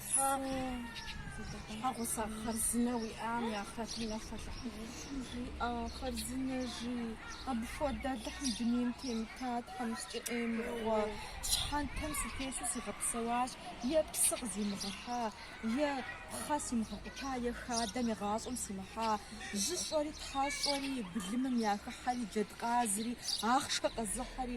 Тхьэм щхьэгъусэ хъарзынэ уиӏам я хэтым нэхъ хэлъыхьынущ. Жиӏэ хъарзынэ жи, апхуэдэ лӏы Алыхьым дунейм темыта Тхьэм сыкӏэӏемыхуэ, щхьэнтэм сытесу сигъэпсэуащ, е псы къызимыгъэхьа, е пхъэ симыгъэкъута, е хадэм и гъащӏэм симыхьа, жьыщӏэри тхьэщӏэри, былымым яхыхьэри, джэдкъазри, ахъшэ къэзыхьэри,